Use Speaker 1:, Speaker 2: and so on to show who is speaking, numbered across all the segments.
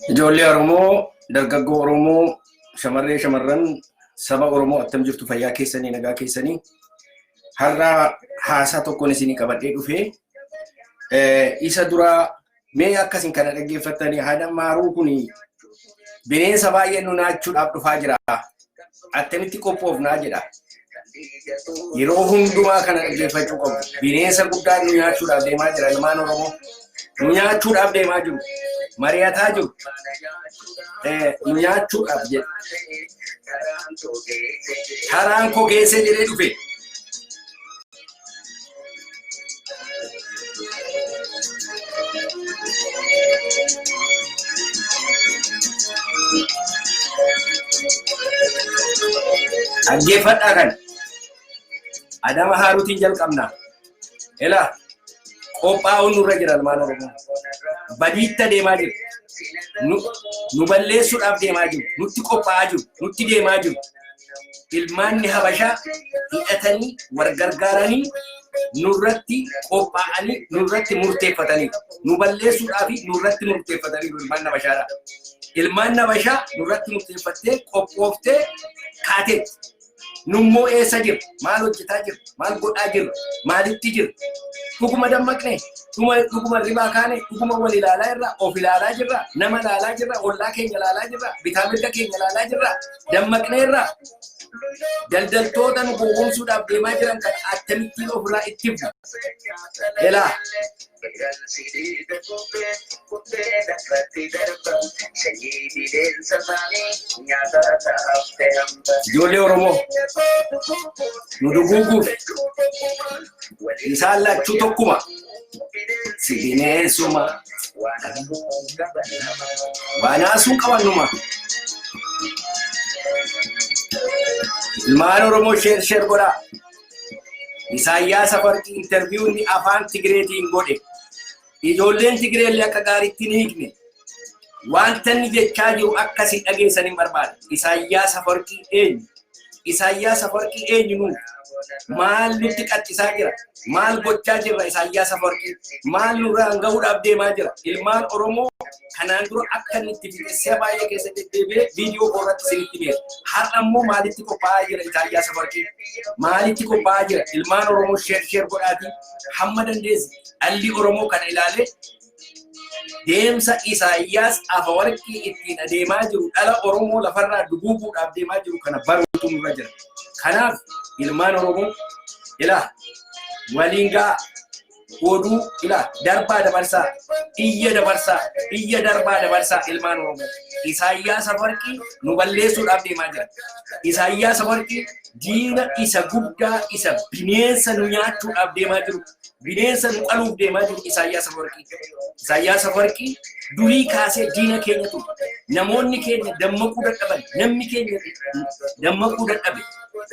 Speaker 1: Ijoollee Oromoo, dargaggoo Oromoo, shamarree shamarran saba Oromoo attam jirtu fayyaa keessanii nagaa keessanii har'a haasaa tokkoon isinii qabadhee dhufee isa duraa mee akkasin kana dhaggeeffattanii haadha maaruu kun bineensa baay'ee nu naachuudhaaf dhufaa jira. attamitti qophoofnaa jedha. Yeroo hundumaa kana dhaggeeffachuu qabna. Bineensa guddaa nu nyaachuudhaaf deemaa jira ilmaan Oromoo. Nu nyaachuudhaaf deemaa jiru. Mari'ataa jiru. Eh, Nu nyaachuudhaaf jedha. Karaan koo geessee jedhee dhufe. Dhaggeeffadhaa kan adama haaruutiin jalqabna. Ela qophaa'uun nurra jira ilmaan Oromoo. Badiitta deemaa jiru. Nu balleessuudhaaf deemaa jiru. Nutti qophaa'aa jiru. Nutti deemaa jiru. ilmaanni habashaa hidhatanii wal gargaaranii nurratti qophaa'anii nurratti murteeffatanii nu balleessuudhaa fi nurratti murteeffatanii ilmaan nabashaadha. Ilmaan nabashaa nurratti murteeffattee qophooftee kaatee nummoo eessa jiru maal hojjetaa jiru maal godhaa jiru maalitti jiru dhuguma dammaqne dhuguma ribaa kaane dhuguma wal ilaalaa irraa of ilaalaa jirra nama ilaalaa jirra ollaa keenya ilaalaa jirra bitaa mirga keenya ilaalaa jirra dammaqneerra daldaltoota nu gowwoomsuudhaaf deemaa jiran kan akkamittiin ofirraa itti bu elaa ijoollee oromoo nu duguuguuf Isaan lachuu tokkuma. Si bineensuma. Waanaasuun qabannuma. Ilmaan Oromoo sheer sheer godhaa. Isaayyaas Afarqii intarviiwuu inni afaan Tigireetiin godhe. Ijoolleen Tigireellee akka gaariitti hin hiikne. Wanta inni jechaa jiru akka isin dhageessan hin barbaadu. Isaayyaas Afawarqii eenyu? Isaayyaas Afawarqii eenyu nuuf? Maal nutti qaxxisaa jira? Maal gochaa jirra Isaayyaas Afawarqii? Maal nurraan gahuudhaaf deemaa jira? Ilmaan Oromoo kanaan dura akka inni itti fixessee baay'ee keessatti deebi'ee viidiyoo koorratti isinitti beera. Har'a immoo maalitti qophaa'aa jira Isaayyaas Afawarqii? Maalitti qophaa'aa jira? Ilmaan Oromoo sheer sheer godhaatii hamma dandeessi dhalli Oromoo kana ilaalee deemsa Isaayyaas Afawarqii ittiin adeemaa jiru dhala Oromoo lafarraa duguuguudhaaf deemaa jiru kana baruutu nurra jira. Kanaaf ilmaan Oromoo ilaa waliin ga'a oduu ilaa darbaa dabarsaa iyya dabarsaa iyya darbaa dabarsaa ilmaan Oromoo Isaayyaas Afawarqii nu balleessuudhaaf deemaa jira. Isaayyaas Afawarqii diina isa guddaa isa bineensa nu nyaachuudhaaf deemaa jiru bineensa nu qaluuf deemaa jiru Isaayyaas Afawarqii. Isaayyaas Afawarqii durii kaasee diina keenya ture. Namoonni keenya dammaquu dadhaban, namni keenya dammaquu dadhabe.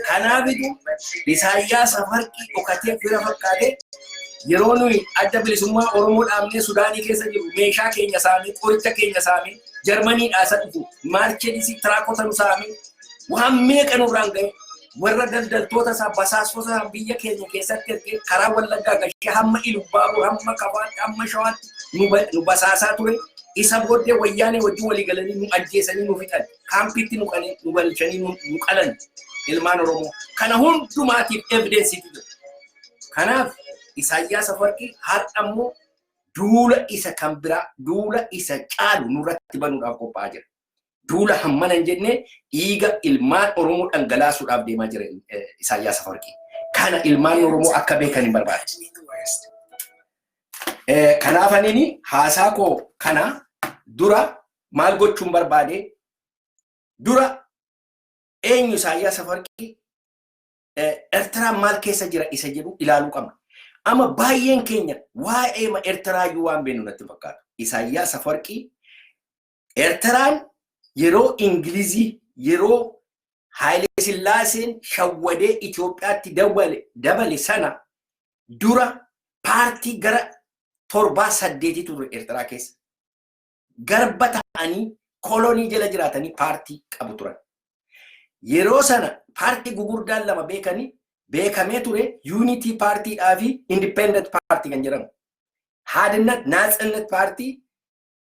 Speaker 1: Kanaafitu Isaayyaas Afawarqii dhokatee fira fakkaatee yeroo nuyi adda bilisummaa Oromoo dhaabnee Sudaanii keessa jiru meeshaa keenya saamee, qoricha keenya saamee, Jarmanii dhaasa dhufu, maarcheedisii tiraakota nu saamee, waan meeqa nurraan ga'e. warra daldaltoota isaa basaastota isaa biyya keenya keessatti ergee karaa wallaggaa gashee hamma ilubbaaboo hamma kabaatti hamma shawaatti nu ba- nu basaasaa ture isa booddee wayyaanee wajjin walii galanii nu ajjeesanii nu fixan kaampiitti nu qalee nu galchanii nu nu qalan ilmaan oromoo kana hundumaatiif evidensiitu jira kanaaf isaayyaas afarqii har'a ammoo duula isa kan biraa duula isa caalu nurratti banuudhaaf qophaa'aa jira Duula hammana hin jenne dhiiga ilmaan Oromoo dhangalaasuudhaaf deemaa jira Isaayyaas Afawarqii. Kana ilmaan Oromoo akka beekan hin barbaadu. Kanaaf anini haasaa koo kana dura maal gochuun barbaade dura eenyu Isaayyaas Afawarqii Ertiraan maal keessa jira isa jedhu ilaaluu qabna. Amma baay'een keenya waa'ee Ertiraa iyyuu waan beeknu natti fakkaatu. Isaayyaas Afawarqii Ertiraan yeroo Ingilizii yeroo Haayilee Sillaaseen shawwadee Itoophiyaatti dabale sana dura paartii gara torbaa saddeetii ture Ertiraa keessa. Garba ta'anii kolonii jala jiraatanii paartii qabu turan. Yeroo sana paartii gugurdaan lama beekanii beekamee ture yuunitii paartiidhaa fi indipendent paartii kan jedhamu. Haadinat naatsinnet paartii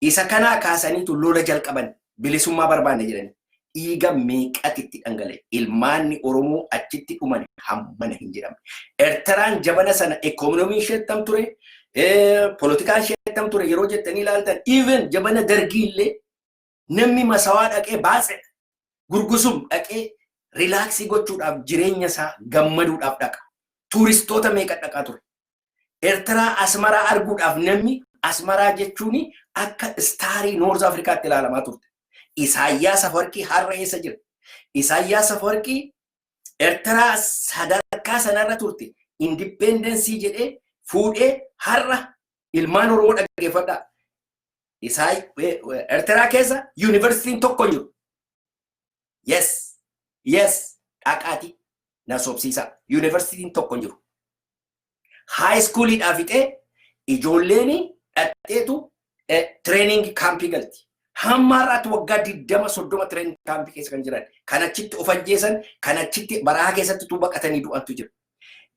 Speaker 1: Isa kanaa kaasaniitu lola jalqaban bilisummaa barbaanna jedhanii. Dhiiga meeqatu itti dhangala'e. Ilmaanni Oromoo achitti dhuman hammana hin jedhamne. Ertiraan jabana sana ekonomiin ishee attam ture, polotikaan ishee attam ture yeroo jettanii ilaaltan even jabana dargii illee Namni masawaa dhaqee baatsedha. Gurgusum dhaqee rilaaksii gochuudhaaf jireenya isaa gammaduudhaaf dhaqa. Tuuristoota meeqa dhaqaa ture. Ertiraa Asmaraa arguudhaaf namni Asmaraa jechuun akka istaarii Noorz Afrikaatti ilaalamaa turte. Isaayyaas Afawarqii har'a eessa jira? Isaayyaas Afawarqii Ertiraa sadarkaa sanarra turte indippeendensii jedhee fuudhee har'a ilmaan Oromoo dhaggeeffadhaa. Isaay Ertiraa keessa yuunivarsiitiin tokko hin jiru. Yes, yes, dhaqaati na sobsiisaa. Yuunivarsiitiin tokko hin jiru. Haayiskuuliidhaa fixee ijoolleen dhaqxeetu tireeningi kaampii galti. Hamma har'aatti waggaa 20-30 tireeningi kaampii keessa kan jiran kan achitti of ajjeesan kan achitti barahaa keessatti tuu baqatanii du'antu jira.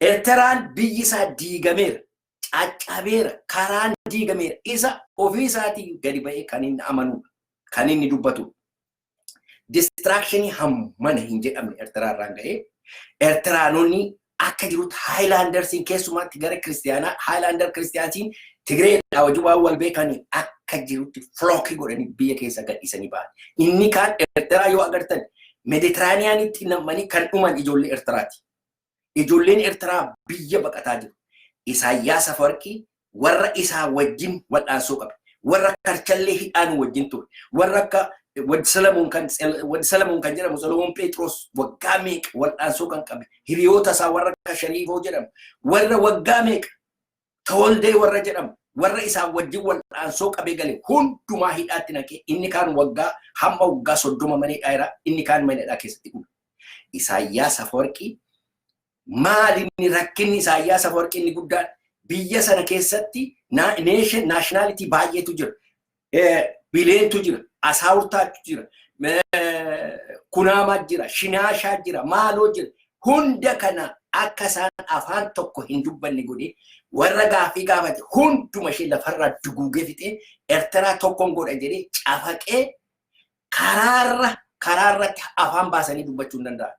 Speaker 1: Ertiraan biyyi isaa diigameera. caccabeera, karaan diigameera. Isa ofii isaatii gadi ba'ee kan inni amanuudha. Kan inni dubbatuudha. Distraakshinii hammana hin jedhamne Ertiraa irraan ga'ee Ertiraanonni akka jirutti Haayilaandarsiin keessumaatti gara kiristiyaanaa Haayilaandar kiristiyaansiin Tigireedhaa wajjin waan wal beekanii akka jirutti filookii godhanii biyya keessa gadhiisanii ba'an. Inni kaan Ertiraa yoo agartan Meeditiraaniyaanitti namanii kan dhuman ijoollee Ertiraati. Ijoolleen Ertiraa biyya baqataa jiru. Isaayyaas Afawarqii warra isaa wajjin wal'aansoo qabe. Warra karchallee hidhaan wajjin ture. Warra akka Wad Salamoon kan Wad Salamoon kan jedhamu Solomoon Pheexiroos waggaa meeqa wal'aansoo kan qabe. Hiriyoota isaa warra akka Shariifoo jedhamu. Warra waggaa meeqa Tawaldee warra jedhamu warra isaan wajjin wal'aansoo qabee gale hundumaa hidhaatti naqee inni kaan waggaa hamma waggaa soddoma mana hidhaa jira inni kaan mana hidhaa keessatti dhume. Isaayyaas Afawarqii maali inni rakkinni Isaayyaas Afawarqii inni guddaan biyya sana keessatti naashinaalitii baay'eetu jira. Bileentu jira, asaawurtaatu jira, kunaamaa jira, shinaashaa jira, maaloo jira. Hunda kana akka isaan afaan tokko hin dubbanne godhee warra gaaffii gaafate hunduma ishee lafarraa duguugee fixee Ertiraa tokkoon godha jedhee cafaqee karaarra karaarratti afaan baasanii dubbachuu hin danda'an.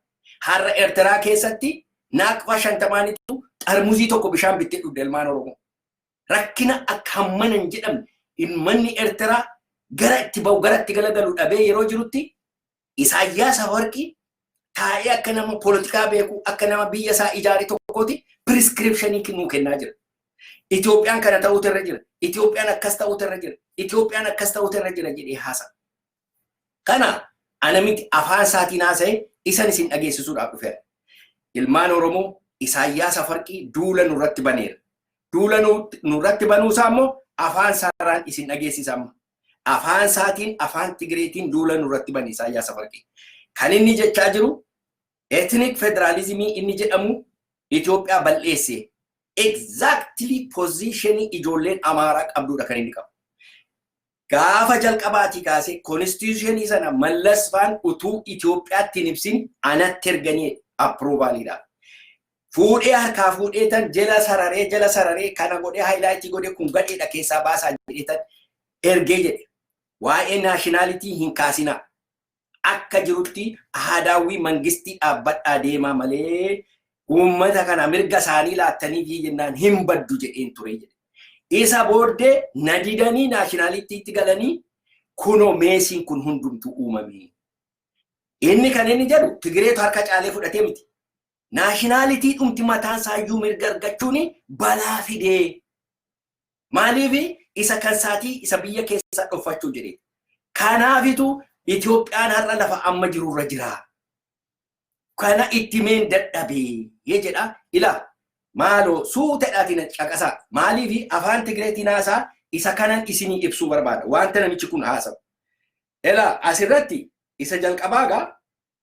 Speaker 1: Har'a Ertiraa keessatti naaqfaa shantamaanitu xarmuzii tokko bishaan bittee dhugde ilmaan Oromoo. rakkina akka hammana hin jedhamne ilmanni Ertiraa gara itti ba'u gara itti galagalu dhabee yeroo jirutti Isaayyaas Afawarqii taa'ee akka nama poolitikaa beeku akka nama biyya isaa ijaare tokkooti piriskiripshinii nuu kennaa jira. Itoophiyaan kana ta'uutu irra jira. Itoophiyaan akkas ta'uutu irra jira. Itoophiyaan akkas ta'uutu irra jira jedhee haasa. Kana ana miti afaan isaatiin haasa'e isan isin dhageessisuudhaaf dhufeera. Ilmaan Oromoo Isaayyaas Afarqii duula nurratti baneera. Duula nurratti banuu isaa immoo afaan isaarraan isin dhageessisa amma. Afaan isaatiin afaan Tigireetiin duula nurratti bane Isaayyaas Afarqii. Kan inni jechaa jiru etnik federaalizimii inni jedhamu Itoophiyaa bal'eesse. Exactly positionii ijoolleen Amaaraa qabduudha kan inni qabu. gaafa jalqabaatii kaasee konstitushenii sana Mallas faan utuu Itoophiyaatti hin ibsin anatti erganii approvalidha. Fuudhee harkaa fuudhee tan jala sararee jala sararee kana godhee haayilaayitii godhee kun gadheedha keessaa baasaa jedhee tan ergee jedhe. Waa'ee naashinaalitii hin kaasinaa. akka jirutti aadaawwii mangistii dhaabbadhaa deemaa malee uummata kana mirga isaanii laattanii fi jennaan hin baddu jedheen ture jedhe. Isa booddee na didanii naashinaalittiitti galanii kunoo meesiin kun hundumtuu uumamee. Inni kan inni jedhu Tigireetu harka caalee fudhatee miti. Naashinaalitii dhumti mataan isaayyuu mirga argachuun balaa fidee Maaliif isa kan isaatii isa biyya keessaa dhoffachuu jedhee. Kanaafitu Itoophiyaan har'a lafa amma jirurra jira. Kana itti meen dadhabee jedha. Ilaa maaloo suutadhaatiin caqasaa maaliif afaan Tigireetiin haasaa isa kanan isinii ibsuu barbaada. Wanta namichi kun haasa'u. Ilaa asirratti isa jalqabaa gaa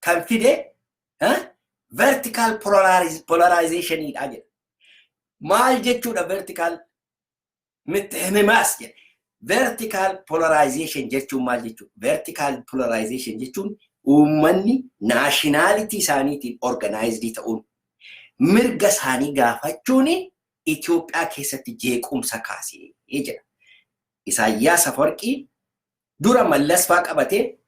Speaker 1: kan fide vertical polarization dha jedha. Maal jechuudha vertical mitti himimaas jedha. Vertical polarization jechuun maal jechuudha? Vertical polarization jechuun uummanni naashinaalitii isaaniitiin organaayizidii ta'uun mirga isaanii gaafachuun Itoophiyaa keessatti jeequmsa kaasee jedha. Isaayyaas Afawarqii dura mallasfaa qabatee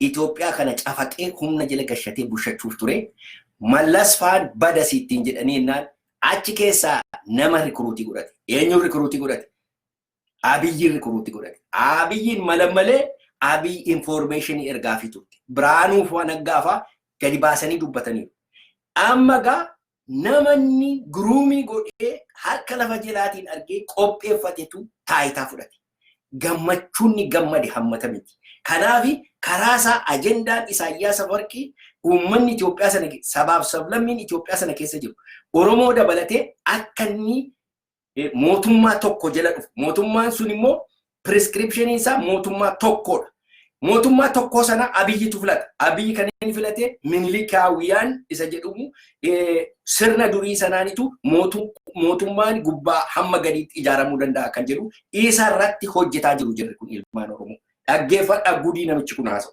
Speaker 1: Itoophiyaa kana cafaqee humna jala gashatee bushachuuf ture. Mallas faan bada siittiin jedhanii jennaan achi keessaa nama rikuruutii godhate. Eenyuun rikuruutii godhate? Abiyyiin rikuruutii godhate. Abiyyiin mala malee Abiy infoormeeshinii ergaafii turte. Birhaanuu faa Naggaa faa gadi baasanii dubbataniiru. Amma gaa namanni guruumii godhee harka lafa jelaatiin argee qopheeffatetu taayitaa fudhate. Gammachuunni gammade hammata miti. Kanaaf karaa isaa ajendaan Isaayyaas Afawarqii uummanni Itoophiyaa sana sabaaf sablammiin Itoophiyaa sana keessa jiru Oromoo dabalatee akka inni mootummaa tokko jala dhufu. Mootummaan sun immoo prescriptionii isaa mootummaa tokkodha. Mootummaa tokkoo sana abiyyitu filata. Abiyyi kan inni filate minilikaawiyaan isa jedhamu sirna durii sanaanitu mootummaan gubbaa hamma gadiitti ijaaramuu danda'a kan jedhu isa irratti hojjetaa jiru jirri kun ilmaan Oromoo. Dhaggeeffadhaa gudii namichi kun haasa'u.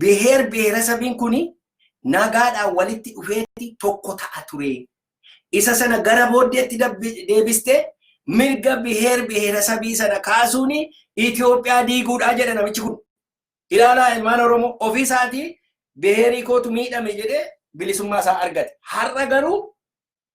Speaker 1: biheer biheerasabiin kun nagaadhaan walitti dhufeetti tokko ta'a ture. Isa sana gara booddeetti deebistee mirga biheer biheerasabii sana kaasuun Itoophiyaa diiguudhaa jedha namichi kun. Ilaalaa ilmaan Oromoo ofii isaatii biheerii kootu miidhame jedhee bilisummaa isaa argate. Har'a garuu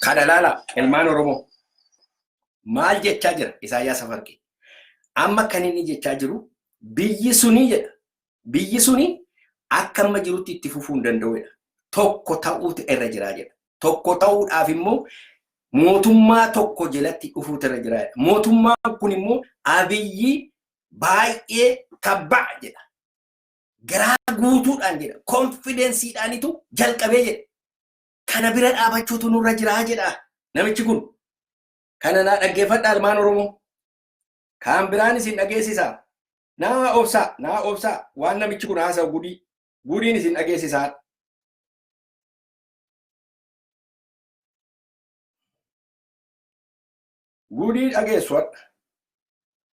Speaker 1: Kana ilaalaa ilmaan Oromoo maal jechaa jira Isaayyaas Afawarqii? Amma kan inni jechaa jiru biyyi sunii jedha. Biyyi suni akka amma jirutti itti fufuu hin danda'u jedha. Tokko ta'uutu irra jiraa jedha. Tokko ta'uudhaaf immoo mootummaa tokko jalatti dhufuutu irra jiraa jedha. Mootummaan kun immoo abiyyi baay'ee tabba'a jedha. Garaa guutuudhaan jedha. Konfidensiidhaanitu jalqabee jedha. Kana bira dhaabachuutu nurra jira jedha namichi kun. Kana naa dhaggeeffadhaa ilmaan Oromoo. Kaan biraan isin dhageessisa. Naa obsaa, naa obsaa waan namichi kun haasa'u gudii. Gudiin isin dhageessisaa. Gudii dhageessu hadha.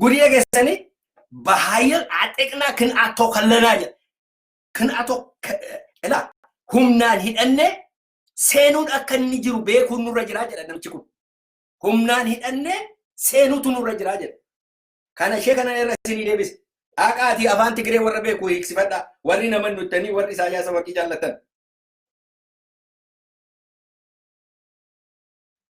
Speaker 1: Gudii dhageessanii bahaayil axeqnaa kin atoo kallanaa jedha. Kin atoo ilaa humnaan hidhannee seenuun akka inni jiru beekuun nurra jiraa jedha namichi kun. Humnaan hidhannee seenuutu nurra jiraa jedha. Kana ishee kana irra isinii deebise. Dhaqaatii afaan Tigiree warra beeku hiiksifadhaa. Warri nama nuttanii warri Isaayyaasa warqii jaallatan.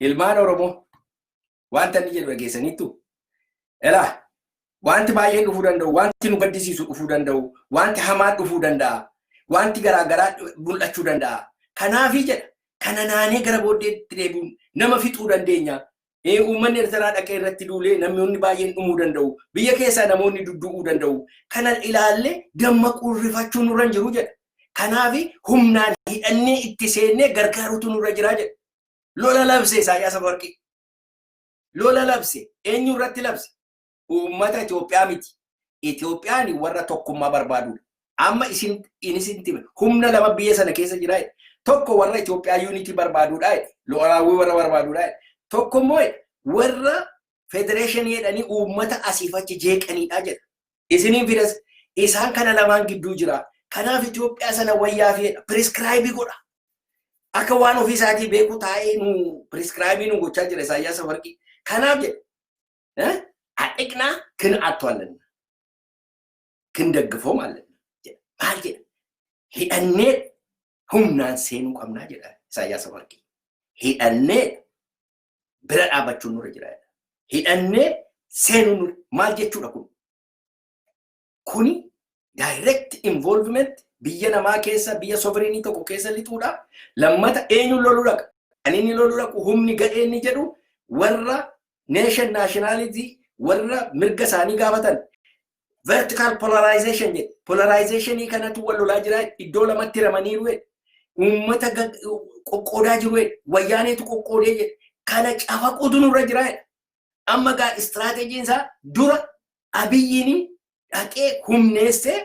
Speaker 1: Ilmaan Oromoo wanta inni jedhu dhageessaniittu elaa wanti baay'een dhufuu danda'u, wanti nu gaddisiisu dhufuu danda'u, wanti hamaan dhufuu danda'a, wanti garaagaraa mul'achuu danda'a. Kanaafii jedha kana naanee gara booddeetti deebi'uun nama fixuu dandeenya. Ee, Uummanni Ertiraa dhaqee irratti duulee namoonni baay'een dhumuu danda'u. Biyya keessaa namoonni duddu'uu danda'u. Kana ilaallee dammaquun rifachuun nurra hin jiru jedha. Kanaaf humnaan hidhannee itti seennee gargaaruutu nurra jira jedha. Lola labse Isaayyaas Afawarqii. Lola labse. Eenyu irratti labse? Uummata Itoophiyaa miti. Itoophiyaan warra tokkummaa barbaadudha. Amma isin isinti humna lama biyya sana keessa jira. Tokko warra Itoophiyaa yuunitii barbaadudha. Lo'alaawwii warra barbaadudha. Tokko immoo warra federeeshinii jedhanii uummata asiif achi jeeqanidha jedha. Isiniin fidas isaan kana lamaan gidduu jira. Kanaaf Itoophiyaa sana wayyaa feedha. Piriskiraayibii godha. Akka waan ofii isaatii beeku taa'ee nu piriskiraayibii nu gochaa jira Isaayyaas Afawarqii. Kanaaf jedha. Adhiqnaa kin attu allanna. Kin daggafoo maallanna. Maal jedha? Hidhannee humnaan seenuu qabnaa jedha Isaayyaas Afawarqii. Hidhannee bira dhaabachuun nurra jira. Hidhannee seenuun nurra maal jechuudha kun? Kuni direct involvement biyya namaa keessa biyya sovereignii tokko keessa lixuudha. Lammata eenyuun loluu dhaqa? Kan inni loluu dhaqu humni gadhee inni jedhu warra nation nationality warra mirga isaanii gaafatan vertical polarization jedhe polarizationii kanatu wal lolaa jira iddoo lamatti ramaniiru jedhe uummata qoqqoodaa jiru jedhe wayyaaneetu qoqqoodee jedhe kana cafaquutu nurra jira jedhe amma gaa istiraateejiin isaa dura abiyyiin dhaqee humneessee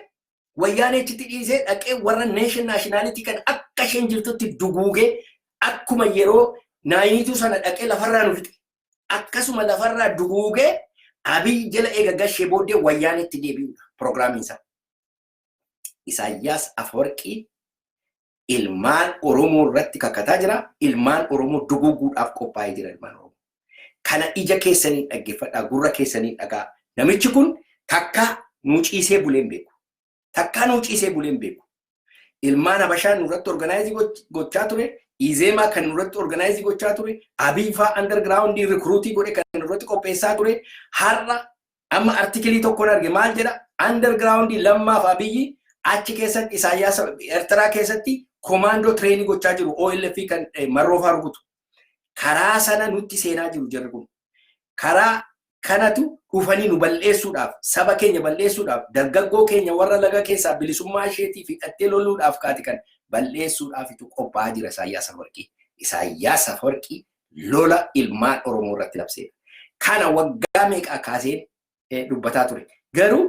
Speaker 1: wayyaaneechitti dhiisee dhaqee warra neeshin naashinaalitii kan akka isheen jirtutti duguugee akkuma yeroo naayiniituu sana dhaqee lafarraa nu fixe akkasuma lafarraa duguugee Abiy jala eega gashee booddee wayyaaneetti deebi'uudha piroogiraamiin isaa. Isaayyaas Afawarqii ilmaan Oromoo irratti kakataa jira. Ilmaan Oromoo duguuguudhaaf qophaa'ee jira ilmaan Oromoo. Kana ija keessaniin dhaggeeffadhaa, gurra keessaniin dhagaa. Namichi kun takka nu ciisee bulee hin beeku. Takkaa nuu ciisee bulee hin beeku. Ilmaan Habashaa nurratti organaayizii gochaa ture, Izeemaa kan nurratti organaayizii gochaa ture, Abiy faa andargiraawundii rikruutii godhe kan nurratti qopheessaa ture, har'a amma artikilii tokkoon arge maal jedha andargiraawundii lammaaf Abiyyi achi keessatti Isaayyaas Eertiraa keessatti komaandoo tireenii gochaa jiru OLF kan marroofaa rukutu. Karaa sana nutti seenaa jiru jarri kun. Karaa kanatu dhufanii nu bal'eessuudhaaf, saba keenya bal'eessuudhaaf, dargaggoo keenya warra laga keessaa bilisummaa isheetiif hidhattee loluudhaaf kaati kan bal'eessuudhaafitu qophaa'aa jira Isaayyaas Afawarqii. Isaayyaas Afawarqii lola ilmaan Oromoo irratti labseedha. Kana waggaa meeqaa kaaseen dubbataa ture. Garuu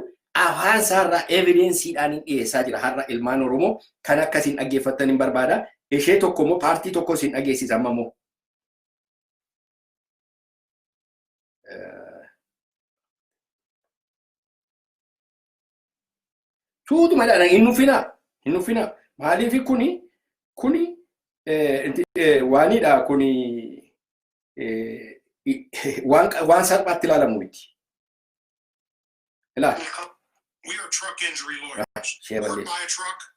Speaker 1: afaan isaarraa evidensiidhaan hin dhiyeessaa jira har'a ilmaan Oromoo kan akka isin dhaggeeffattan hin barbaada. Ishee tokko immoo paartii tokko isin dhageessisa amma immoo. Tuutuma jedhana hin nuffinaa. Hin nuffinaa. Maaliif kuni kuni waanidha kuni waan salphaatti ilaalamu miti. Ilaali. We are
Speaker 2: truck injury lawyers. Work by a truck,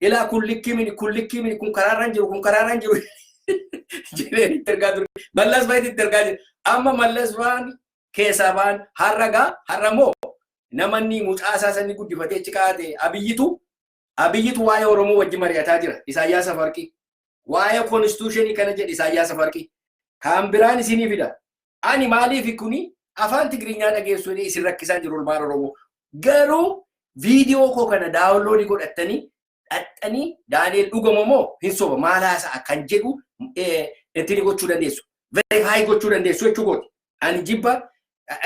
Speaker 1: ilaa kun likkii miti kun likkii miti kun karaarra hin jiru kun karaarra hin jiru jedhee itti ergaa ture. Mallas fa'itti itti ergaa jira. Amma mallas fa'aan keessaa ba'an har'a gaa har'a moo namanni mucaa isaa sanii guddifatee achi kaa'ate abiyyitu abiyyitu waa'ee Oromoo wajji mari'ataa jira. Isaayyaas Afawarqii. waa'ee konstituushinii kana jedhe Isaayyaas Afawarqii. Kaan biraan isinii fida. Ani maaliif kuni afaan Tigiriinyaa dhageessuu jedhee isin rakkisaa jiru ilmaan Oromoo. Garuu viidiyoo koo kana daawunloodii godhattanii dhaxxanii Daani'el dhugama moo hin soba maal haasa'a kan jedhu ittiin gochuu dandeessu. Verifaayi gochuu dandeessu jechuu kooti. Ani jibba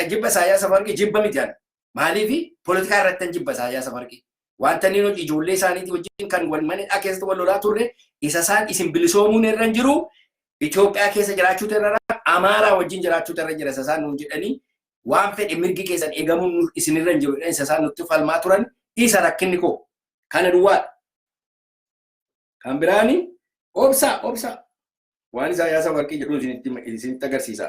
Speaker 1: jibba Isaayyaas Afawarqii jibba miti ani. Maaliif poolitikaa irratti jibba Isaayyaas Afawarqii. Wanta inni nuti ijoollee isaaniitii wajjin kan wal mana hidhaa keessatti wal lolaa turre isa isaan isin bilisoomuun irra hin jiru Itoophiyaa keessa jiraachuu irra Amaaraa wajjin jiraachuu irra jira isa isaan nuun jedhanii waan fedhe mirgi keessan eegamuun isin irra hin jiru isa isaan nutti falmaa turan isa rakkinni koo kana duwwaadha. Kan biraani obsaa obsaa waan Isaayyaas Afawarqii jedhu isinitti isinitti agarsiisa.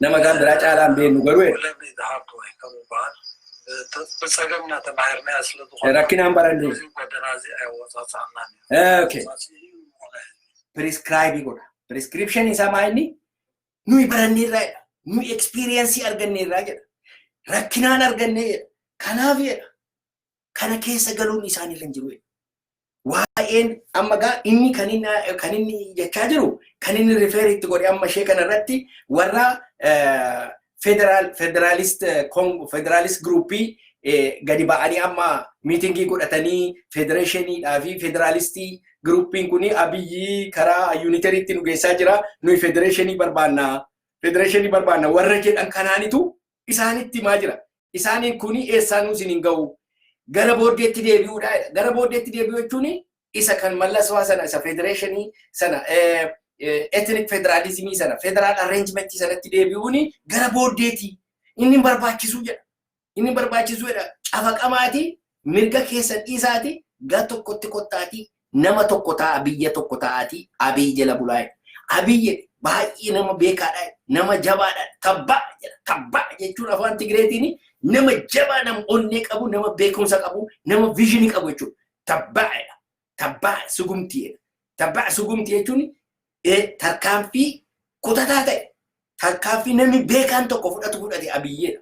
Speaker 3: Nama isaan biraa
Speaker 1: caalaa hin beeknu garuu
Speaker 3: rakkinaan baranne. Okay.
Speaker 1: Prescribe godha. Prescription isaa maa inni? Nuyi barannee irraa jedha. Nuyi experience argannee irraa jedha. Rakkinaan argannee jedha. Kanaaf jedha. kana keessa galuun isaan irra hin jiru. Waa'een amma gaa inni kan inni kan inni jechaa jiru kan inni rifeer itti godhe amma ishee kana irratti warra federaal federaalist federaalist giruuppii gadi ba'anii amma miitingii godhatanii federeeshiniidhaa fi federaalistii giruuppiin kun abiyyi karaa yuuniteriitti nu geessaa jira nuyi federeeshinii barbaanna federeeshinii barbaanna warra jedhan kanaanitu isaanitti himaa jira. Isaaniin kun eessaanuu isin hin ga'u. Gara booddeetti deebi'uudha. Gara booddeetti deebi'uu jechuun isa kan mallaswaa sana isa federeeshinii sana etnik federaalizimii sana federaal arreenjimentii sanatti deebi'uun gara booddeetti inni hin barbaachisu jedha. Inni hin barbaachisu jedha. Cafaqamaati Mirga keessan dhiisaatii gar tokkotti kottaatii nama tokko ta'aa biyya tokko ta'aatii Abiy jala bulaa jedhe. Abiy jedhe baay'ee nama beekaadha jedhe, nama jabaadha tabbaa jedha. Tabbaa jechuun afaan Tigireetiin nama jabaa nama onnee qabu nama beekumsa qabu nama viizhinii qabu jechuudha. Tabbaa jedha. tabbaa sugumtii jedha. Tabbaa sugumtii jechuun tarkaanfii kutataa ta'e tarkaanfii namni beekaan tokko fudhatu fudhate abiyyeedha.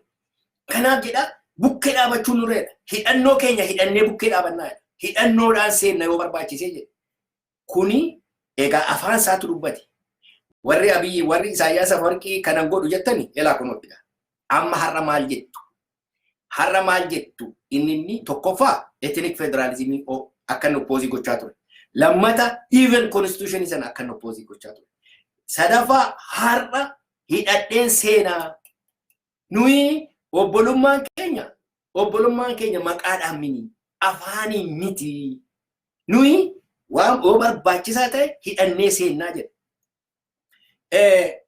Speaker 1: Kanaaf jedha bukkee dhaabachuun nurreedha. Hidhannoo keenya hidhannee bukkee dhaabannaa jedha. Hidhannoodhaan seenna yoo barbaachisee jedha. Kuni egaa afaan isaatu dubbate. Warri abiyyi warri Isaayyaas Afawarqii kanan godhu jettani elaa kunuuttidha. Amma har'a maal jettu? Har'a maal jettu inni inni tokkoffaa ethnic federalism akka inni opposii gochaa ture. Lammata even constitution sana akka inni opposii gochaa ture. Sadaffaa har'a hidhadheen seenaa nuyi obbolummaan keenya obbolummaan keenya maqaadhaan mini afaaniin miti nuyi waan yoo barbaachisaa ta'e hidhannee seennaa jedha.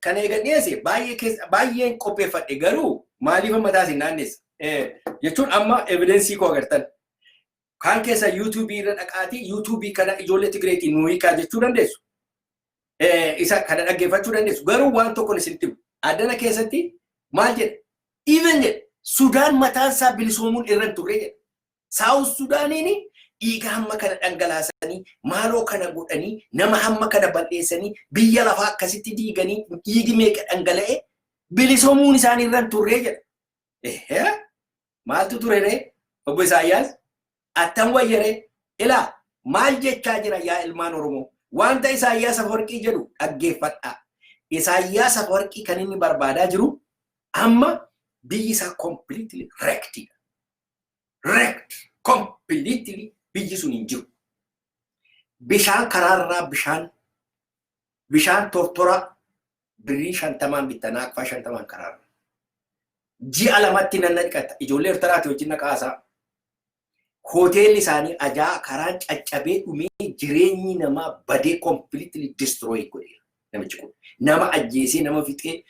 Speaker 1: Kan eegan dhiyeesse baay'een qopheeffadhe garuu maaliif mataa isin naannessa? Jechuun amma evidensii koo agartan. Kaan keessa yuutuubii irra dhaqaatii yuutuubii kana ijoollee Tigireetii nuu hiikaa jechuu dandeessu. Isa kana dhaggeeffachuu dandeessu. Garuu waan tokkoon isinitti himu. Addana keessatti maal jedha? Even jedha Sudaan mataan isaa bilisoomuun irra hin turre jedha. Saawus Sudaaniin dhiiga hamma kana dhangalaasanii maaloo kana godhanii nama hamma kana bal'eessanii biyya lafaa akkasitti diiganii dhiigi meeqa dhangala'e bilisomuun isaanii irra hin turree jedha. Ehee maaltu ture ree obbo Isaayyaas attam wayyaree ilaa maal jechaa jira yaa ilmaan Oromoo wanta Isaayyaas Afawarqii jedhu dhaggeeffadhaa. Isaayyaas Afawarqii kan inni barbaadaa jiru amma biyyi isaa completely wrecked wrecked completely biyyi sun hin jiru. Bishaan karaarraa bishaan bishaan tortoraa birrii shantamaan bittanaa akkufaa shantamaan karaarra. Ji'a lamatti nan naqata ijoollee Ertaraati wajjin naqaasaa. Hoteelli isaanii ajaa karaan caccabee dhumee jireenyi namaa badee completely destroy godheera namichi kun. Nama ajjeesee nama fixee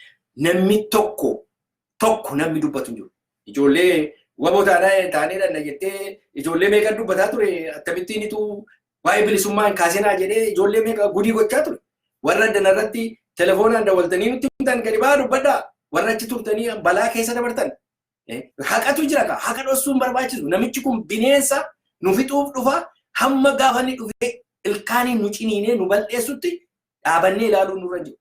Speaker 1: namni tokko tokko namni dubbatu hin jiru. Ijoollee waboo taanaa taanee dhanna jettee ijoollee meeqan dubbataa ture akkamittiin ituu waa'ee bilisummaa hin kaasinaa jedhee ijoollee meeqa gudii gochaa ture. Warra addana irratti telefoonaan dawwaltanii nutti himtan gadi ba'aa dubbadhaa warra achi turtanii balaa keessa dabartan. Haqatu jira kaa haqa dhossuun barbaachisu namichi kun bineensa nu fixuuf dhufa hamma gaafa inni dhufee ilkaaniin nu ciniinee nu bal'eessutti dhaabannee ilaaluun nurra jiru.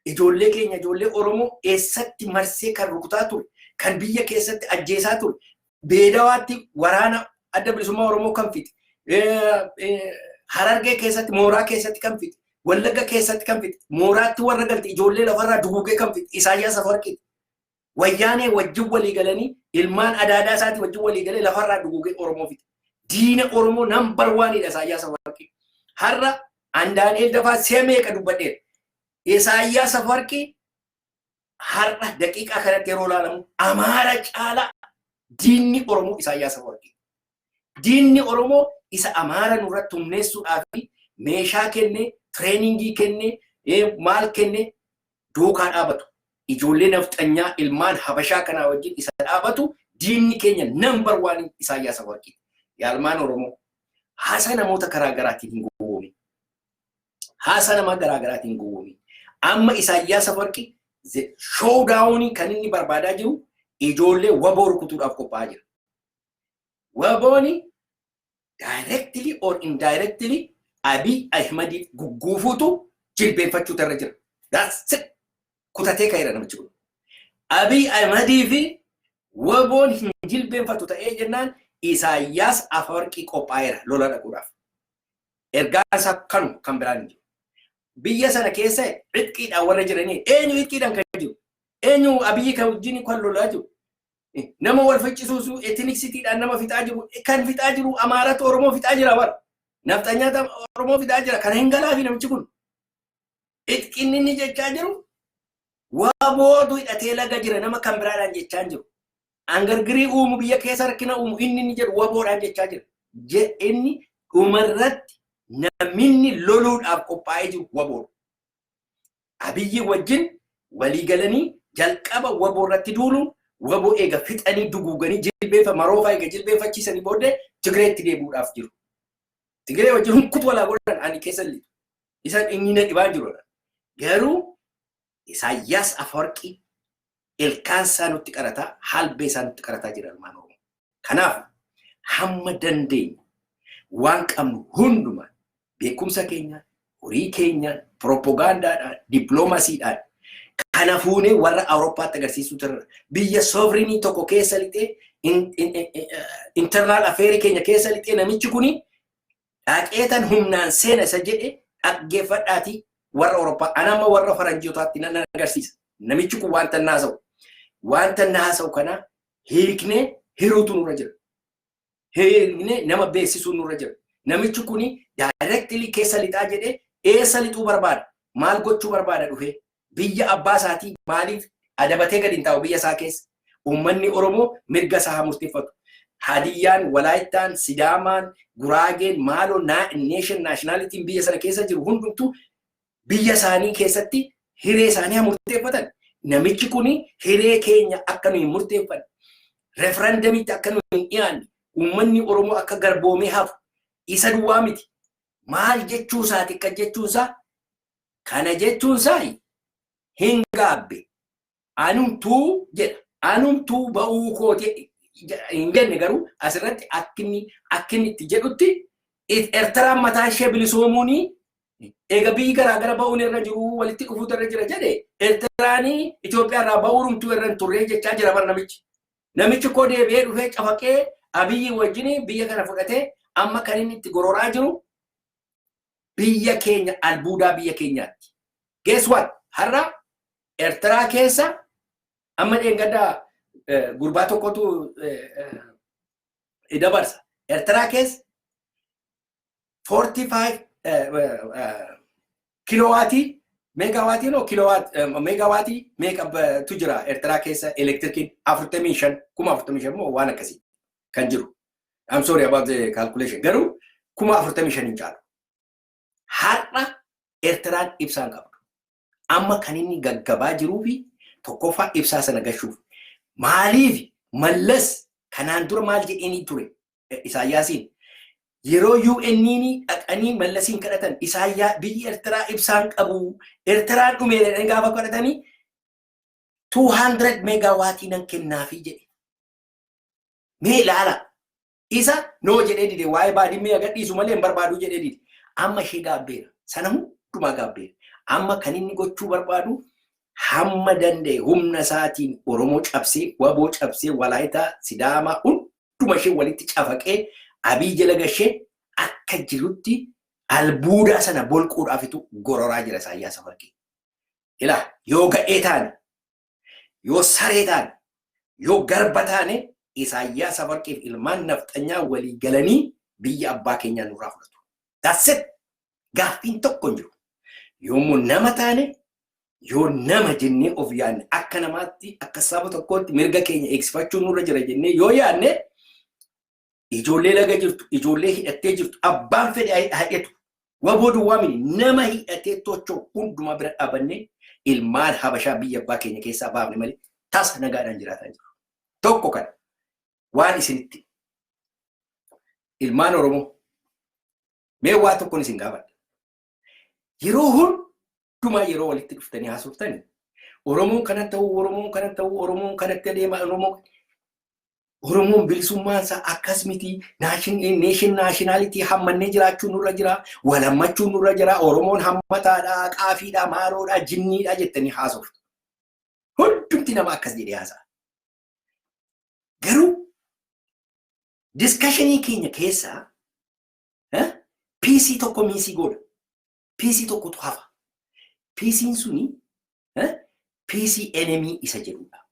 Speaker 1: ijoollee keenya ijoollee Oromoo eessatti marsee kan rukutaa ture, kan biyya keessatti ajjeesaa ture, beelawaatti waraana adda bilisummaa Oromoo kan fixe, harargee keessatti mooraa keessatti kan fixe, wallagga keessatti kan fixe, mooraatti warra galte ijoollee lafarraa duguugee kan fixe Isaayyaas Afawarqiiti. Wayyaanee wajjin walii galanii ilmaan adaadaa isaatii wajjin walii galee lafarraa duguugee Oromoo fixe. Diina Oromoo nambar waaniidha Isaayyaas Afawarqii. Har'a an Daani'eel Dafaa si'a meeqa dubbadheera. Isaayyaas Afawarqii har'a daqiiqaa kanatti yeroo ilaalamu Amaara caalaa diinni Oromoo Isaayyaas Afawarqii. Diinni Oromoo isa Amaara nurratti humneessuudhaa fi meeshaa kenne, tireeningii kenne, maal kenne duukaa dhaabatu. Ijoollee nafxanyaa ilmaan Habashaa kanaa wajjin isa dhaabatu diinni keenya nambar waanii Isaayyaas Afawarqiiti. Yaalmaan Oromoo haasaa namoota karaa garaatiin hin gowwoomin. Haasaa namaa garaa garaatiin hin gowwoomin. Amma Isaayyaas Afawarqi showdaawunii kan inni barbaadaa jiru ijoollee waboo rukutuudhaaf qophaa'aa jira. Wabooni directly or indirectly Abiy Ahimad gugguufuutu jilbeenfachuu irra jira. That's it. Kutatee ka'eera namichi kun. Abiy Ahimadii fi waboon hin jilbeenfatu ta'ee jennaan Isaayyaas Afawarqii qophaa'eera lola dhaquudhaaf. Ergaan isaa kanu kan biraan hin jiru. Biyya sana keessa itqiidhaan warra jiranii eenyu itqiidhaan kan jiru? Eenyu Abiy kan wajjin kan lolaa jiru? nama wal ficcisiisu etiniksitiidhaan nama fixaa jiru kan fixaa jiru amaaratu oromoo fixaa jira bara nafxanyaata oromoo fixaa jira kana hin galaafi namichi kun itqinni inni jechaa jiru waa boodu hidhatee laga jira nama kan biraadhaan jechaa hin jiru angargirii uumu biyya keessa rakkina uumu inni inni jedhu waboodhaan jechaa jira Je- inni dhumarratti naminni loluudhaaf qophaa'ee jiru waboodha Abiyyi wajjin walii galanii jalqaba waboo irratti duulu waboo eega fixanii duguuganii jilbeefa maroofaa eega jilbeeffachiisanii booddee Tigireetti deebi'uudhaaf jiru. Tigiree wajjin hunkutu walaa godhan ani keessa lixa. Isaan inni na dhibaa jiru. Garuu Isaayyaas Afawarqii ilkaan isaa nutti qarataa, halbee isaa nutti qarataa jira ilmaan Oromoo. Kanaaf hamma dandeenyu waan qabnu hundumaan beekumsa keenyaan, horii keenyaan, pirooppogaandaadhaan, dippiloomasiidhaan kana fuunee warra Awurooppaatti agarsiisuu turre. Biyya soovrinii tokko keessa lixee internaal afeerii keenya keessa lixee namichi kuni dhaqeetan humnaan seena isa jedhe dhaggeeffadhaati warra Awurooppaa ana amma warra faranjootaatti nan agarsiisa. Namichi kun wanta inni haasa'u wanta inni haasa'u kana hiiknee hiruutu nurra jira. Hiiknee nama beeksisuu nurra jira. Namichi kun daayireektilii keessa lixaa jedhee eessa lixuu barbaada? Maal gochuu barbaada dhufee? Biyya abbaa isaatii maaliif adabatee gadi hin taa'u biyya isaa keessa? Uummanni Oromoo mirga isaa haa murteffatu. Hadiyyaan, Walaayittaan, Sidaamaan, Guraageen maaloo nation nationalitiin biyya sana keessa jiru hundumtuu biyya isaanii keessatti hiree isaanii haa murteeffatan. Namichi kun hiree keenya akka nuyi murteeffanne referendamitti akka nuyi hin dhiyaanne uummanni Oromoo akka garboomee hafu isa duwwaa miti. Maal jechuu isaati akka jechuun isaa Kana jechuun saani hin gaabbe. Anumtuu jedha. Anumtuu ba'uu kooti hin jenne garuu asirratti akkinni akkinni itti jedhutti Ertiraan mataa ishee bilisoomuun eega biyyi garaa gara ba'uun irra jiru walitti dhufuutu irra jira jedhe Ertiraan Itoophiyaa irraa ba'uurumtuu irra hin turree jechaa jira bar namichi. Namichi koo deebi'ee dhufee cafaqee Abiyyi wajjin biyya kana fudhatee amma kan inni itti gororaa jiru biyya keenya albuudaa biyya keenyaatti. Guess what? Har'a Ertiraa keessa amma dheengaddaa gurbaa tokkotu dabarsa. Ertiraa keessa 45 kiloowaatii meegaawaatii noo meegaawaatii meeqatu jira Ertiraa keessa elektirikiin 45 kuma 45 moo waan akkasii. kan jiru. I'm sorry about the calculation. Garuu kuma afurtamii shan hin caalu. Har'a Eertiraan ibsaan qabdu. Amma kan inni gaggabaa jiruu fi tokkoffaa ibsaa sana gashuuf. Maaliif mallas kanaan dura maal jedheenii ture Isaayyaasiin yeroo UN'n dhaqanii mallasiin kadhatan isaayyaa biyyi Eertiraa ibsaan qabu Eertiraan dhumeera gaafa kadhatanii 200 meegaawaatii nan kennaafii jedhe. Mee ilaala. Isa noo jedhee dide waa'ee baadimmee agadhiisu malee hin barbaadu jedhee dide. Amma ishee gaabbeera. Sana hundumaa gaabbeera. Amma kan inni gochuu barbaadu hamma danda'e humna isaatiin Oromoo cabsee, Waboo cabsee, Walaayitaa, Sidaamaa hunduma ishee walitti cafaqee abii jala gashee akka jirutti albuudaa sana bolquudhaafitu gororaa jira Isaayyaas Afarkii. Ilaa yoo gadhee taane Yoo saree taane, yoo garba taane Isaayyaas Afarqiif ilmaan nafxanyaa walii galanii biyya abbaa keenyaa nurraa fudhatu. That's it. Gaaffiin tokko hin jiru. Yoommoo nama taane yoo nama jennee of yaadne akka namaatti akka saba tokkootti mirga keenya eegsifachuun nurra jira jennee yoo yaadne ijoollee laga jirtu, ijoollee hidhattee jirtu, abbaan fedhe hidhatu. Waboo duwwaa miti nama hidhatee tochoo hundumaa bira dhaabannee ilmaan habashaa biyya abbaa keenya keessaa baafne malee tasa nagaadhaan jiraataa jiru. Tokko kana waan isinitti ilmaan Oromoo mee waa tokkoon isin gaafadha. Yeroo hundumaa yeroo walitti dhuftanii haasoftanii Oromoon kana ta'uu, Oromoon kana ta'uu, Oromoon kanatti adeema, Oromoon Oromoon bilisummaan isaa akkas miti, neeshin naashinaalitii hammannee jiraachuu nurra jira, wal hammachuu nurra jira, Oromoon hammataadha, qaafiidha, maaroodha, jinniidha jettanii haasoftu. Hundumti nama akkas jedhee haasa'a. Garuu diskashinii keenya keessaa piisii tokko miisii goona. Piisii tokkotu hafa. Piisiin suni piisii enemii isa jedhudha.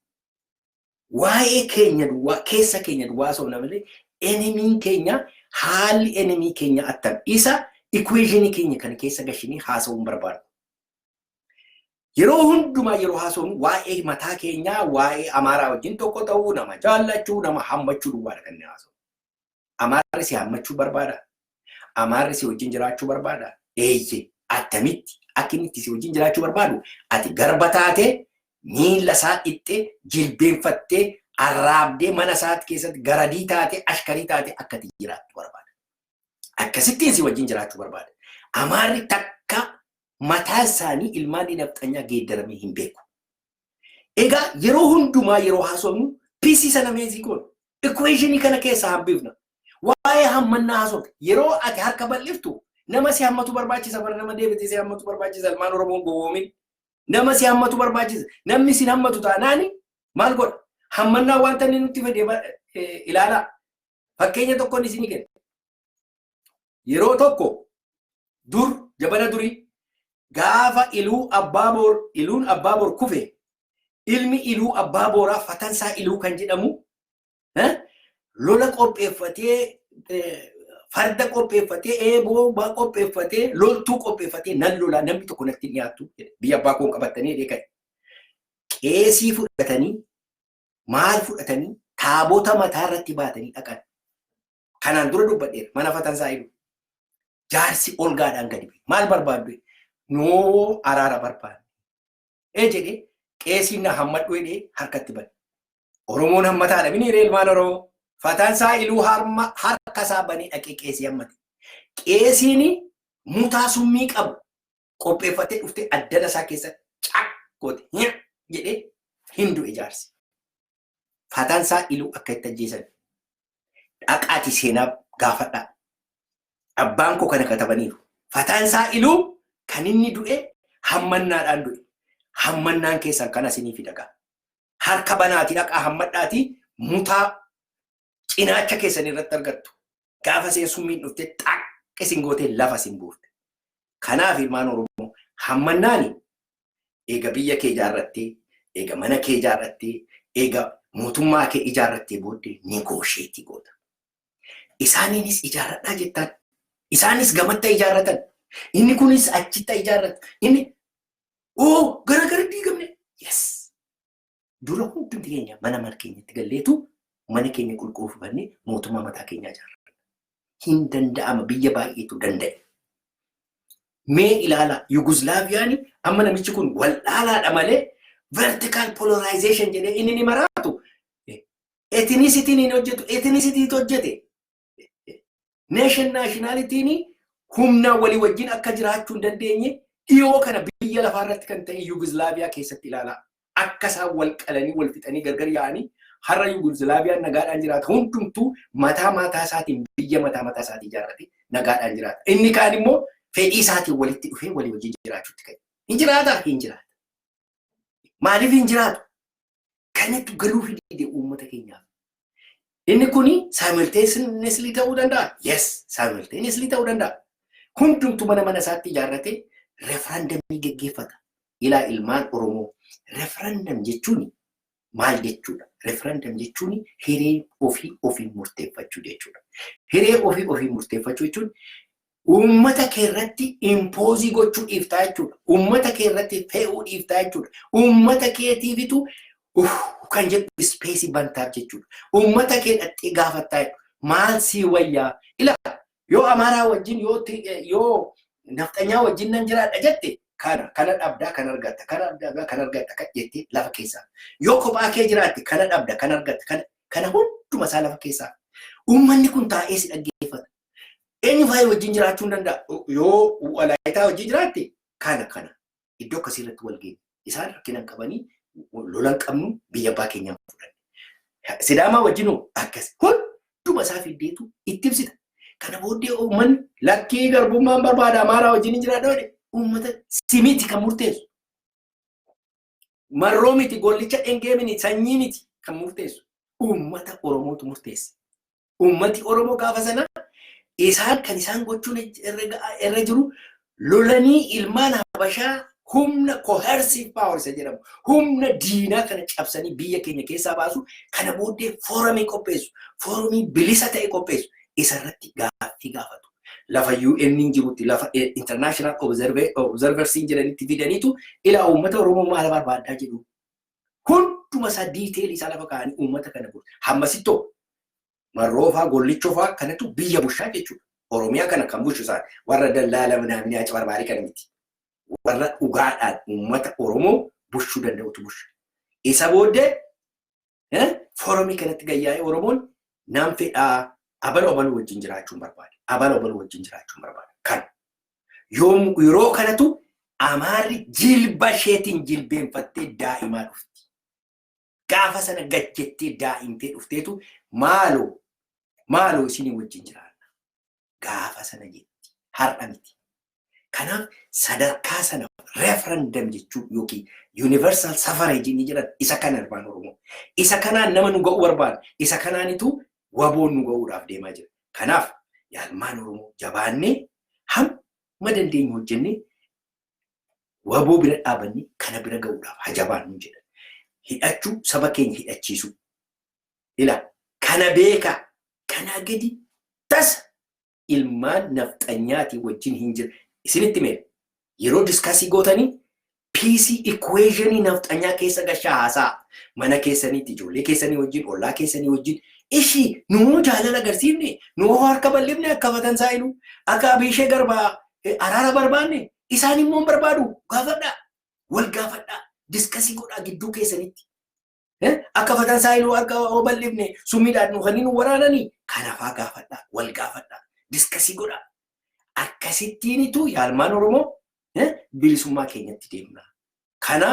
Speaker 1: Waa'ee keenya duwwaa keessa keenya duwwaa osoo hin malee enemiin keenya haalli enemii keenya attam isa ikuweeshinii keenya kana keessa gashinee haasa'uun barbaadu. Yeroo hundumaa yeroo haasofnu waa'ee mataa keenyaa waa'ee amaaraa wajjin tokko ta'uu nama jaallachuu nama hammachuu duwwaadha kan inni haasa'u. Amaarri si haammachuu barbaada? Amaarri si wajjin jiraachuu barbaada? Eeyye, attamitti akka inni itti si wajjin jiraachuu barbaadu ati garba taatee miila isaa dhiqxee jilbeenfattee arraabdee mana isaatti keessatti garadii taatee ashkarii taatee akka itti jiraattu barbaada. Akkasittiin si wajjin jiraachuu barbaada. Amaarri takka mataa isaanii ilmaan dinafxanyaa geeddaramee hin beeku. Egaa yeroo hundumaa yeroo haasofnu PC sana meezii goona. Equationii kana keessaa hambifna. Waa'ee hammannaa haasofna. Yeroo ati harka bal'iftu nama si hammatu barbaachisa bara nama deebitee si hammatu barbaachisa ilmaan Oromoon gowwoomin. Nama si hammatu barbaachisa. Namni sin hammatu taanaani maal godha? Hammannaa wanta inni nutti fedhe ilaalaa. Fakkeenya tokkoon isinii kenna. yeroo tokko dur jabana durii gaafa iluu abbaa boor iluun abbaa boor kufe ilmi iluu abbaa booraa fatansaa iluu kan jedhamu eh, lola qopheeffatee eh, farda qopheeffatee eeboo baa qopheeffatee loltuu qopheeffatee nan lolaa namni tokko natti hin dhiyaattu jedhe. biyya abbaa koon qabatanii dheekan qeesii fudhatanii maal fudhatanii taabota mataa irratti baatanii dhaqan Kanaan dura dubbadheera mana fatansaa ilu. Jaarsi olgaadhaan gadi bu'e. Maal barbaaddu? Noo araara barbaadne. Ee jedhee qeesiin na hammadhu jedhee harkatti bane. Oromoon hammataadha mini hiree ilmaan Oromoo. Fatansaa iluu harma harkasaa banee dhaqee qeesii hammate. Qeesiin mutaa summii qabu qopheeffatee dhuftee addana isaa keessa cak goote jedhee hin du'e jaarsi. Faataansaa Iluu akka itti ajjeesan dhaqaati seenaa gaafadhaa. Abbaan koo kana katabaniiru. Faataansaa Iluu kan inni du'e hammannaadhaan du'e. Hammannaan keessan kana isinii fidagaa. Harka banaati dhaqaa hammadhaati mutaa cinaacha keessan irratti argattu. Gaafa seen summiin dhufte xaq isin gootee lafa isin buufte. Kanaaf ilmaan Oromoo hammannaani eega biyya kee ijaarrattee, eega mana kee ijaarrattee, eega mootummaa kee ijaarrattee booddee negoosheetii goota. Isaaniinis ijaarradhaa jettaan. Isaanis gamatta ijaarratan. Inni kunis achitta ijaarrata. Inni oo gara gara diigamne. Yes. Dura hundumti keenya mana mana keenyatti galleetu mana keenya qulqulluu fufannee mootummaa mataa keenyaa ijaarra. Hin danda'ama biyya baay'eetu danda'e. Mee ilaala Yuguslaaviyaan amma namichi kun wal'aalaadha malee vertical polarization jedhee inni ni maraatu. Etinisitiin hin hojjetu, etinisitiin hojjete. Neeshan naashinaalitiin humnaa walii wajjin akka jiraachuu hin dandeenye dhiyoo kana biyya lafaa irratti kan ta'e Yuugizlaaviyaa keessatti ilaalaa. Akka isaan wal qalanii wal fixanii gargar yaa'anii har'a Yuugizlaaviyaan nagaadhaan jiraata. Hundumtuu mataa mataa isaatiin biyya mataa mataa isaatii ijaarratee nagaadhaan jiraata. Inni kaan immoo fedhii isaatiin walitti dhufee walii wajjin jiraachuutti ka'e. Hin jiraata? Hin jiraata. Maaliif hin jiraatu? Kanatu galuu fidee uummata keenyaaf. Inni kun simultaneously ta'uu danda'a. Yes, simultaneously ta'uu danda'a. Hundumtu mana mana isaatti ijaarratee referendumii geggeeffata. Ilaa ilmaan Oromoo referendum jechuun maal jechuudha? Referendum jechuun hiree ofii ofii murteeffachuu jechuudha. Hiree ofii ofii murteeffachuu jechuun Uummata kee irratti impoozii gochuu dhiiftaa jechuudha. Uummata kee irratti fe'uu dhiiftaa jechuudha. Uummata keetiifitu kan jedhu ispeesii bantaaf jechuudha. Uummata kee dhattee gaafattaa jechuudha. Maal sii wayyaa? Ilaa yoo Amaaraa wajjin yoo yoo nafxanyaa wajjin nan jiraadha jette kana kana dhabdaa kan argatta kana dhabdaa kan argatta kan jettee lafa keessaa yoo kophaa kee jiraatte kana dhabda kan argatta kana kana hunduma isaa lafa keessaa uummanni kun taa'ee si dhaggeeffata Eenyu faayee wajjin jiraachuu hin danda'a. Yoo walaayitaa wajjin jiraatte kana kana iddoo akkasii irratti wal geenye. Isaan rakkina hin qabanii lola hin qabnu biyya abbaa keenyaa fudhanne. Sidaamaa wajjin hoo akkas hunduma isaa fiddeetu itti ibsita. Kana booddee uummanni lakkii garbummaan barbaada amaaraa wajjin hin jiraadha jedhe uummata simiiti kan murteessu. marroo miti gollicha dhengee miti sanyii miti kan murteessu uummata Oromootu murteesse. Uummati Oromoo gaafa sana isaan kan isaan gochuun irra jiru lolanii ilmaan Habashaa humna coercive power isa jedhamu humna diinaa kana cabsanii biyya keenya keessaa baasu kana booddee foorumii qopheessu foorumii bilisa ta'e qopheessu isarratti gaaffii gaafatu. lafa UN jirutti lafa international observersiin jedhanitti fidaniitu ilaa uummata Oromoo maala barbaaddaa jedhu. Hunduma isaa diiteelii isaa lafa kaa'anii uummata kana bulu. Hammasittoo marroofaa gollichofaa kanatu biyya bushaa jechuudha. Oromiyaa kana kan bushu isaan warra dallaala minaaminaa cabarbaarii kana miti. Warra dhugaadhaan uummata Oromoo bushuu danda'utu busha. Isa booddee foorumii kanatti gayyaa'ee Oromoon naan fedhaa abala obaluu wajjin jiraachuun barbaada. Abala obaluu wajjin jiraachuun barbaada. Kan yeroo kanatu Amaarri jilba isheetiin jilbeenfattee daa'imaa dhufti. Gaafa sana gajjettee daa'imtee dhufteetu maaloo maaloo isinii wajjin jiraanna. gaafa sana jetti. Har'a miti. Kanaaf sadarkaa sana referendum jechuu yookiin universal suffrage inni jedhan isa kana ilmaan Oromoo. Isa kanaan nama nu ga'uu barbaada. Isa kanaanitu waboon nu ga'uudhaaf deemaa jira. Kanaaf yaa ilmaan Oromoo jabaannee hamma dandeenyu hojjennee waboo bira dhaabannee kana bira ga'uudhaaf haa jabaannu jedha. Hidhachuu saba keenya hidhachiisuu. Ila kana beekaa kanaa gadi tasa ilmaan nafxanyaatii wajjin hin jira isinitti mee yeroo diskasii gootanii piisii ikuweezhinii nafxanyaa keessa gashaa haasaa mana keessaniitti ijoollee keessanii wajjin ollaa keessanii wajjin ishii nuu jaalala agarsiifne nuu harka bal'ifne akka fatan saayilu akka abiishee garbaa araara barbaanne isaan immoo barbaadu gaafadhaa wal gaafadhaa diskasii godhaa gidduu keessanitti Akka fatan saayiluu akka obal'ifne summiidhaan nu kanneen waraananii kanafaa gaafadhaa wal gaafadhaa diskasii godhaa. Akkasittiinitu yaalmaan Oromoo bilisummaa keenyatti deemna. Kana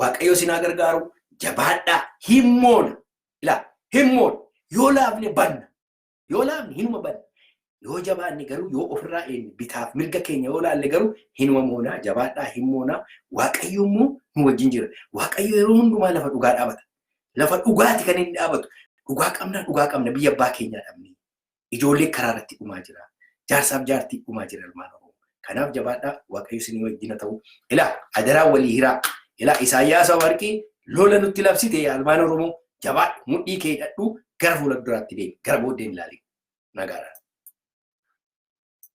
Speaker 1: Waaqayyo sinaa gargaaru jabaadhaa himmoona. Ilaa himmoona yoo laafne banna. Yoo laafne hinuma badna. Yoo jabaanne garuu yoo ofirraa eegne bitaaf mirga keenya yoo laalle garuu hinuma moonaa jabaadhaa hin moonaa waaqayyo immoo nu wajjin jira. Waaqayyo yeroo hundumaa lafa dhugaa dhaabata. Lafa dhugaati kan inni dhaabatu. Dhugaa qabna dhugaa qabna biyya abbaa keenyaa dhabne. Ijoollee karaa irratti dhumaa jira. Jaarsaaf jaartii dhumaa jira ilmaan Oromoo. Kanaaf jabaadhaa waaqayyo isinii wajjin haa ta'u. Ilaa adaraa walii hiraa. Ilaa Isaayyaas Afawarqii lola nutti labsite yaa ilmaan Oromoo jabaadhu mudhii kee hidhadhu gara fuula duraatti deemi gara booddeen ilaali. Nagaadhaan.